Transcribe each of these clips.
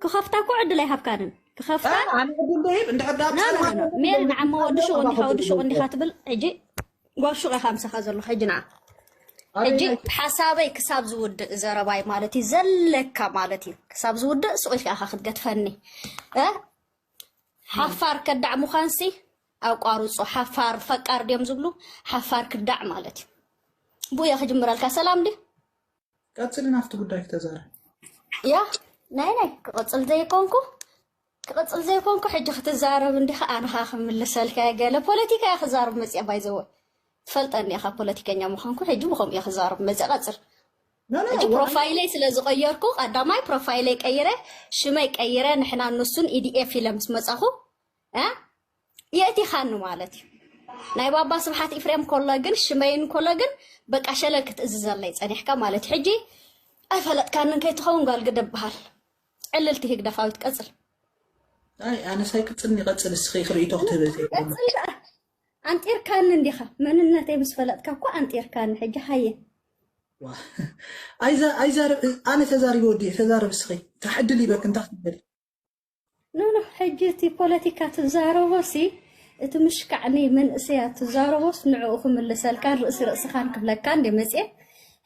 ክኸፍታ እኮ ዕድል ኣይሃብካንን ክኸፍታ ኣነ ዕድል ደይብ እንድሕር ዳ ብሰላም ሜሪ ንዓ እሞ ወዲ ሹቕ እንዲኻ ወዲ ሹቕ እንዲኻ ትብል ሕጂ ጓል ሹቕ ኢኻ ምሳኻ ዘሎ ሕጂ ንዓ ሕጂ ሓሳበይ ክሳብ ዝውድእ ዘረባይ ማለት እዩ ዘለካ ማለት እዩ ክሳብ ዝውድእ ሱቕ ኢልካ ኢኻ ክትገድፈኒ እ ሓፋር ከዳዕ ምዃንሲ ኣቋርፆ ሓፋር ፈቃር ድዮም ዝብሉ ሓፋር ክዳዕ ማለት እዩ ብኡ እየ ክጅምረልካ ሰላም ድዩ ቀፅሊ ናፍቲ ጉዳይክ ተዛረብ። ያ ናይ ናይ ክቕፅል ዘይኮንኩ ክቕፅል ዘይኮንኩ ሕጂ ክትዛረብ እንዲኻ ኣነኻ ክምልሰልካ እየ ገለ ፖለቲካ እየ ክዛረብ መፅአ ባይዘወ ትፈልጠኒ ኢኻ ፖለቲከኛ ምዃንኩ ሕጂ ብከምኡ እየ ክዛረብ መፅአ ቀፅል ሕጂ ፕሮፋይለይ ስለ ዝቐየርኩ ቀዳማይ ፕሮፋይለይ ቀይረ ሽመይ ቀይረ ንሕና ንሱን ኢዲኤፍ ኢለ ምስ መፃኹ እ የእቲኻኒ ማለት እዩ ናይ ባባ ስብሓት ኢፍሬም ኮሎ ግን ሽመይን ኮሎ ግን በቃ ሸለል ክትእዝዘለይ ፀኒሕካ ማለት ሕጂ ኣይፈለጥካንን ከይትኸውን ጓል ግደ በሃል ዕልልቲ ህግደፋዊት ቀፅል ኣይ ኣነሳይ ክፅልኒ ይቐፅል እስኺ ክርእቶ ክትህብ ቀፅል ደኣ ኣንጢርካኒ እንዲኻ መንነተይ ምስ ፈለጥካ እኮ ኣንጢርካኒ ሕጂ ሃየ ኣይዛርብ ኣነ ተዛሪበ ወዲእ ተዛርብ እስኺ ታሕድል ይበክ እንታይ ትብል ኖኖ ሕጂ እቲ ፖለቲካ ትዛረቦሲ እቲ ምሽካዕ ንመንእሰያት ትዛረቦስ ንዕኡ ክምልሰልካን ርእሲ ርእስኻን ክብለካን እንደ መጽኤ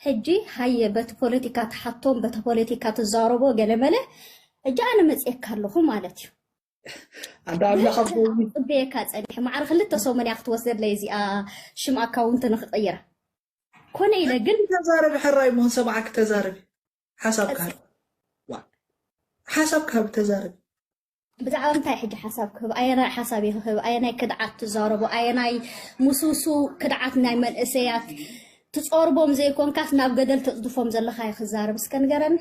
ሕጂ ሃየ በቲ ፖለቲካ ትሓቶም በቲ ፖለቲካ ትዛረቦ ገለመለ ሕጂ ኣነ መጽኤካ ኣለኹ ማለት እዩ ኣደ ኣምላኽ ኣቦይ ጽበየካ ጸኒሐ ማዕረ ክልተ ሰሙን እያ ክትወስደለይ እዚኣ ሽም ኣካውንት ንክቕይራ ኮነ ኢለ ግን ተዛረቢ ሕራይ መሆን ሰማዕኪ ተዛረቢ ሓሳብካ ሃብ ዋእ ሓሳብካ ሃብ ተዛረብ። ብዛዕባ እንታይ ሕጂ ሓሳብ ክህብ ኣየናይ ሓሳብ እዩ ክህብ ኣየናይ ክድዓት ትዛረቡ ኣየናይ ምስውሱ ክድዓት ናይ መንእሰያት ትጾርቦም ዘይኮንካስ ናብ ገደል ተጽድፎም ዘለካ እዩ ክዛረብ እስከ ንገረኒ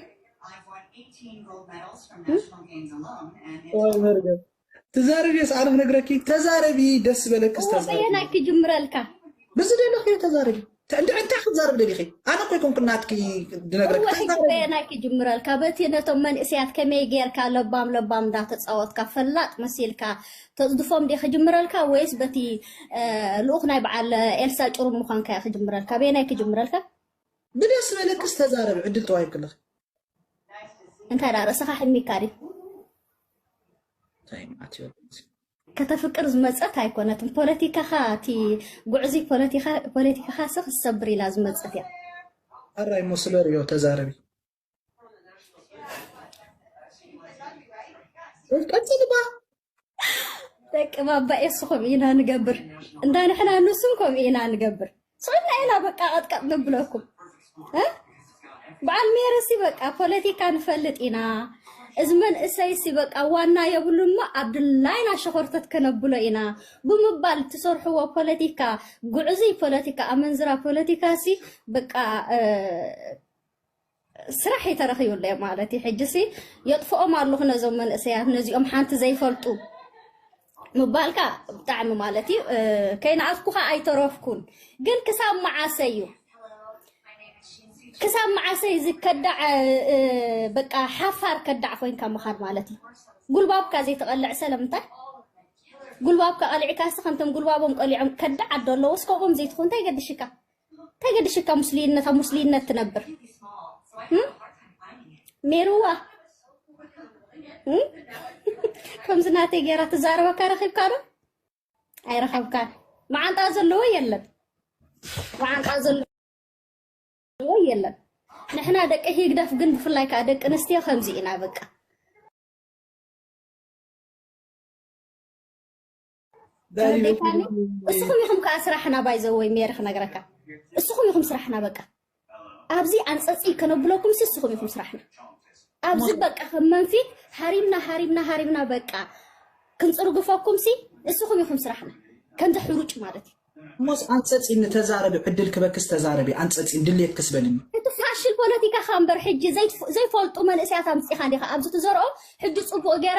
ወይ መርገም ትዛረብዮስ ኣነ ክነግረኪ ተዛረቢ ደስ ዝበለክስ እወ ተዛረቢ በየናይ ክጅምረልካ ብዝደለኽዮ ተዛረቢ ተ- እንድዕ እንታይ ክትዛረብ ደሊኺ ኣነ እኮ ይኮንኩ ናትኪ ድነግረኪ እወ ሕጂ ተዛረቢ በየናይ ክጅምረልካ በቲ ነቶም መንእሰያት ከመይ ጌርካ ለባም ለባም እንዳተጻወትካ ፈላጥ መሲልካ ተጽድፎም ድየ ክጅምረልካ ወይስ በቲ እ፣ ልኡኽ ናይ በዓል ኤልሳ ጭሩም ምዃንካ እየ ክጅምረልካ በየናይ ክጅምረልካ ብደስ ዝበለክስ ተዛረቢ ዕድል ተዋሂብክልኺ እንታይ ደኣ ርእስኻ ሕሚካ ድዩ እንታይ መዓት ይወልድ ከተፍቅር ዝመፀት ኣይኮነትን ፖለቲካኻ እቲ ጉዕዙይ ፖለቲካኻ ስ ክሰብር ኢላ ዝመፀት እያ ኣራይ እሞ ስለ ሪዮ ተዛረቢ ቀፅልባ ደቂ ባባ ኤስኹም ኢና ንገብር እንዳ ንሕና ንሱም ከምኡ ኢና ንገብር ፅዕና ኢና በቃ ቀጥቀጥ ንብለኩም እ? በዓል ሜርሲ በቃ ፖለቲካ ንፈልጥ ኢና እዚ መንእሰይሲ በቃ ዋና የብሉን እሞ ኣብ ድላይና ሸኾርተት ከነብሎ ኢና ብምባል እትሰርሕዎ ፖለቲካ ጉዕዙይ ፖለቲካ ኣመንዝራ ፖለቲካሲ በቃ እ፣ ስራሕ እዩ ተረኺቡለይ ማለት እዩ ሕጂሲ የጥፍኦም ኣለኹ ነዞም መንእሰያት ነዚኦም ሓንቲ ዘይፈልጡ ምባልካ ብጣዕሚ ማለት እዩ ከይነኣስኩኻ ኣይተረፍኩን ግን ክሳብ መዓሰ እዩ ክሳብ መዓሰ እዚ ከዳዕ በቃ ሓፋር ከዳዕ ኮይንካ ምኻድ ማለት እዩ ጉልባብካ ዘይተቐልዕ ሰለምንታይ ጉልባብካ ቀሊዕካሲ ከምቶም ጉልባቦም ቀሊዖም ከዳዕ ኣዶ ኣለዎስ ከምኦም ዘይትኾን እንታይ ገድሽካ እንታይ ገድሽካ ሙስሊነት ኣብ ሙስሊነት ትነብር ሜሩዋ ከምዚ ናተይ ገይራ ትዛረበካ ረኺብካ ዶ ኣይረኸብካን መዓንጣ ዘለዎ የለን መዓንጣ ዘለዎ የለን ንሕና ደቂ ህግደፍ ግን ብፍላይ ከዓ ደቂ ኣንስትዮ ከምዚ ኢና በቃ ተረዲእካኒ? እስኹም ኢኹም ከዓ ስራሕና ባይዘወይ ሜሪ ክነግረካ እስኹም ኢኹም ስራሕና በቃ ኣብዚ ኣንፀፂ ከነብለኩም ሲ እስኹም ኢኹም ስራሕና ኣብዚ በቃ ከም መንፊት ሃሪምና ሃሪምና ሃሪምና በቃ ክንፅርግፈኩም ሲ እስኹም ኢኹም ስራሕና ከምዚ ሕሩጭ ማለት እዩ እሞስ ኣንጸጺን ንተዛረቢ ዕድል ክበክስ ተዛረቢ ኣንጸጺን ድሌትክስ በልኒ። እቲ ፋሽል ፖለቲካኻ እምበር ሕጂ ዘይፈልጡ መንእሰያት ኣምጺኻ ዲኻ ኣብዚ ትዘርኦ ሕጂ ጽቡቕ ጌረ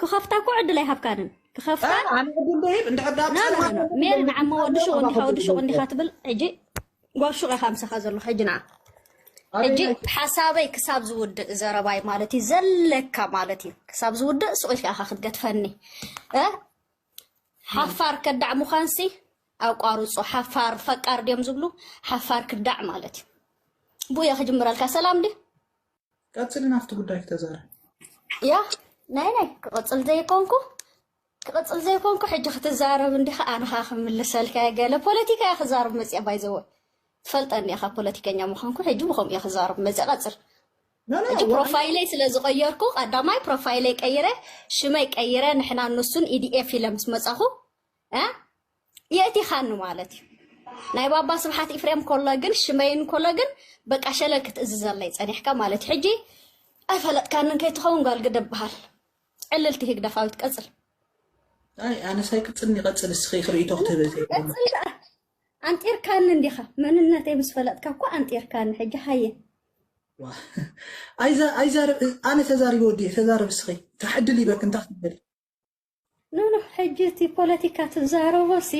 ክኸፍታ እኮ ዕድል ኣይሃብካንን ክኸፍታ ሜሪ ንዓማ ወዲ ሹቕ እንዲኻ ወዲ ሹቕ እንዲኻ ትብል ሕጂ ጓል ሹቕ ኢኻ ምሳኻ ዘሎ ሕጂ ንዓ ሕጂ ሓሳበይ ክሳብ ዝውድእ ዘረባይ ማለት እዩ ዘለካ ማለት እዩ ክሳብ ዝውድእ ስቑኢልካ ኢኻ ክትገትፈኒ ሓፋር ከዳዕ ምዃንሲ ኣቋርጾ ሓፋር ፈቃር ድዮም ዝብሉ ሓፋር ክዳዕ ማለት እዩ ብኡየ ክጅምረልካ ሰላም ድ ቀፅሊ ናፍቲ ጉዳይ ክተዛረ ያ ናይ ናይ ክቕፅል ዘይኮንኩ ክቕፅል ዘይኮንኩ ሕጂ ክትዛረብ እንዲኻ ኣንኻ ክምልሰልካ ገለ ፖለቲካ እያ ክዛረብ መፅያ ባይዘወ ትፈልጠኒ ኢኻ ፖለቲከኛ ምዃንኩ ሕጂ ብከምኡ እየ ክዛረብ መፅያ ቀፅል ኖ ኖ ሕጂ ዋዕላ ፕሮፋይለይ ስለ ዝቐየርኩ ቀዳማይ ፕሮፋይለይ ቀይረ ሽመይ ቀይረ ንሕና ንሱን ኢዲኤፍ ኢለ ምስ መጻኹ እ የእቲኻኒ ማለት እዩ ናይ ባባ ስብሓት ኢፍሬም ኮሎ ግን ሽመይን ኮሎ ግን በቃ ሸለል ክትእዝዘለይ ጸኒሕካ ማለት እዩ ሕጂ ኣይፈለጥካንን ከይትኸውን ጓል ግደ በሃል ዕልልቲ ህግደፋዊት ቀጽል ኣይ ኣነስ ኣይቅጽልን ይቐጽል እስኺ ክርእይቶ ክትህብ እየ ቀጽል ደኣ ኣንጢርካኒ እንዲኻ መንነተይ ምስ ፈለጥካ እኮ ኣንጢርካኒ ሕጂ ሃየ። ዋእ ኣይዛረብ ኣነ ተዛሪበ ወዲኤ ተዛረቢ እስኺ እንታ ዕድል ሂበኪ እንታ ክትበሊ። ኖኖ ሕጂ እቲ ፖለቲካ ትዛረቦሲ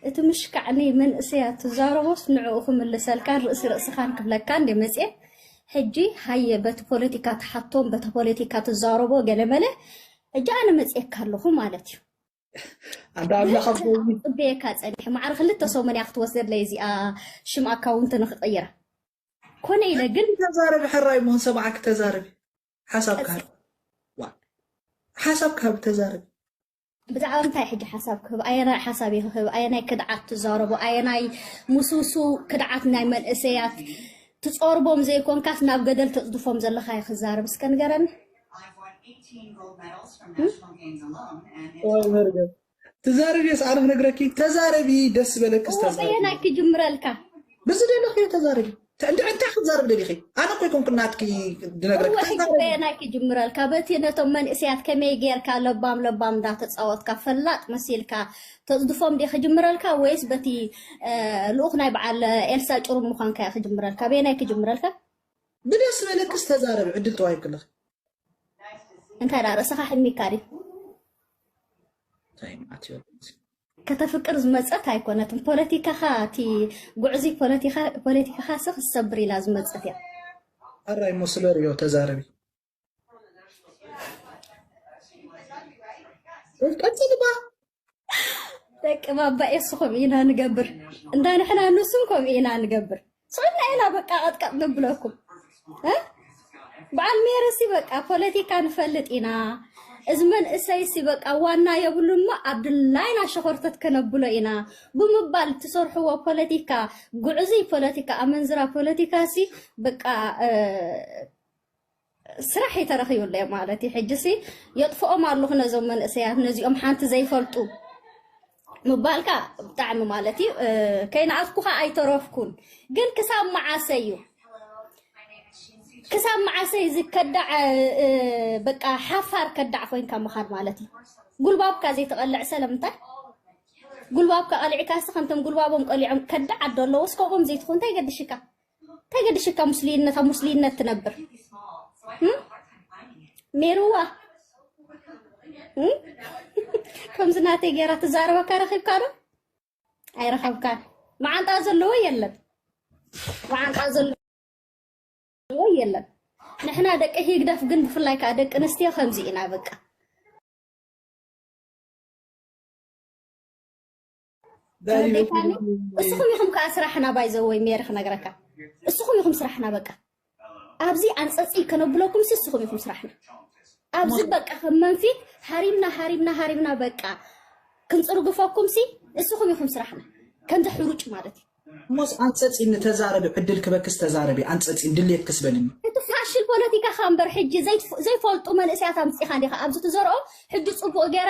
እቲ ምሽካዕ ንመንእሰያት ትዛረቦስ ንዕኡ ክምልሰልካን ርእሲ ርእስኻን ክብለካን እንድየ መጽየ ሕጂ ሃየ በቲ ፖለቲካ ትሓቶም በቲ ፖለቲካ ትዛረቦ ገለመለ ሕጂ ኣነ መጽየካ ኣለኹ ማለት እዩ። ኣንዳ ኣምላኽ ኣብ ብዙሕ ጎኒ ክጽበየካ ጸኒሐ ማዕረ ክልተ ሰሙን እያ ክትወስደለይ እዚኣ ሽም ኣካውንቲ ንክቕይራ ኮነ ኢለ ግን ሕጂ ተዛረቢ ሕራይ እሞ ንሰማዓኪ ተዛረቢ ሓሳብ ቀጽ ክሃብ ዋ ሓሳብ ክሃብ ተዛረቢ ብዛዕባ እንታይ ሕጂ ሓሳብ ክህብ ኣየናይ ሓሳብ እየ ክህብ ኣየናይ ክድዓት ትዛረቦ ኣየናይ ምስውሱ ክድዓት ናይ መንእሰያት ትጾርቦም ዘይኮንካስ ናብ ገደል ተጽድፎም ዘለካ እየ ክዛረብ እስከ ንገረኒ ትዛረቢ ስ ኣነፍ ነግረኪ ተዛረቢ ደስ ዝበለኪ በየናይ ክጅምረልካ ብዚ ደለኺ ተዛረቢ እንታይ ክትዛረብ ደሊኺ ኣነ ኮይ ኮንኩ ናትኪ ድነግረኪበየናይ ክጅምረልካ በቲ ነቶም መንእሰያት ከመይ ጌርካ ለባም ለባም እንዳተፃወትካ ፈላጥ መሲልካ ተፅድፎም ዲ ክጅምረልካ ወይስ በቲ ልኡኽ ናይ በዓል ኤልሳ ጭሩም ምዃንካ ክጅምረልካ በየናይ ክጅምረልካ ብደስ ዝበለክስ ተዛረቢ ዕድል ተዋሂብክለኺ። እንታይ ደኣ ርእስኻ ሕሚካ ድዩ? ታይ መዓት እዩ ወላሂ። ከተፍቅር ዝመጸት ኣይኮነትን ፖለቲካኻ እቲ ጉዕዙይ ፖለቲካ ፖለቲካኻሲ ክትሰብር ኢላ ዝመጸት እያ። ኣራይ እሞ ስለ ሪኦ ተዛረቢ። ቀጽልባ ደቂ ባባ ኤሱ ከምኡ ኢና ንገብር እንዳ ንሕና ንሱም ከምኡ ኢና ንገብር ስቕና ኢና በቃ ቀጥቀጥ ንብለኩም በዓል ሜርሲ በቃ ፖለቲካ ንፈልጥ ኢና እዚ መንእሰይሲ በቃ ዋና የብሉን እሞ ኣብ ድላይና ሸኾርተት ከነብሎ ኢና ብምባል ትሰርሕዎ ፖለቲካ ጉዕዙይ ፖለቲካ ኣመንዝራ ፖለቲካ ሲ በቃ ስራሕ እዩ ተረኺቡለይ ማለት እዩ ሕጂሲ የጥፍኦም ኣለኹ ነዞም መንእሰያት ነዚኦም ሓንቲ ዘይፈልጡ ምባልካ ብጣዕሚ ማለት እዩ ከይነኣስኩኻ ኣይተረፍኩን ግን ክሳብ መዓሰ እዩ ክሳብ መዓሰ እዚ ከዳዕ በቃ ሓፋር ከዳዕ ኮይንካ ምኻድ ማለት እዩ ጉልባብካ ዘይተቐልዕ ሰለምንታይ ጉልባብካ ቀሊዕካሲ ከምቶም ጉልባቦም ቀሊዖም ከዳዕ ኣዶ ኣለዎስ ከምኦም ዘይትኾን እንታይ ገድሽካ እንታይ ገድሽካ ሙስሊነት ኣብ ሙስሊነት ትነብር ሜሩዋ ከምዚ ናተይ ገይራ ትዛረበካ ረኺብካ ዶ ኣይረኸብካን መዓንጣ ዘለዎ የለን መዓንጣ ዘለዎ የለን ንሕና ደቂ ህግደፍ ግን ብፍላይ ከዓ ደቂ ኣንስትዮ ከምዚ ኢና በቃ ተረዲእካኒ? እስኹም ኢኹም ከዓ ስራሕና ባይዘወይ ሜሪ ክነግረካ እስኹም ኢኹም ስራሕና በቃ ኣብዚ ኣንፀፂ ከነብለኩም ሲ እስኹም ኢኹም ስራሕና ኣብዚ በቃ ከም መንፊት ሃሪምና ሃሪምና ሃሪምና በቃ ክንፅርግፈኩም ሲ እስኹም ኢኹም ስራሕና ከምዚ ሕሩጭ ማለት እዩ እሞስ ኣንፀፂ ንተዛረቢ ዕድል ክበክስ ተዛረቢ ኣንፀፂ ድሌት ክስበልኒ እቲ ፋሽል ፖለቲካኻ እምበር ሕጂ ዘይፍ- ዘይፈልጡ መንእሰያት ኣምፂኻ እንዲኻ ኣብዚ ትዘርኦ ሕጂ ፅቡቅ ገይረ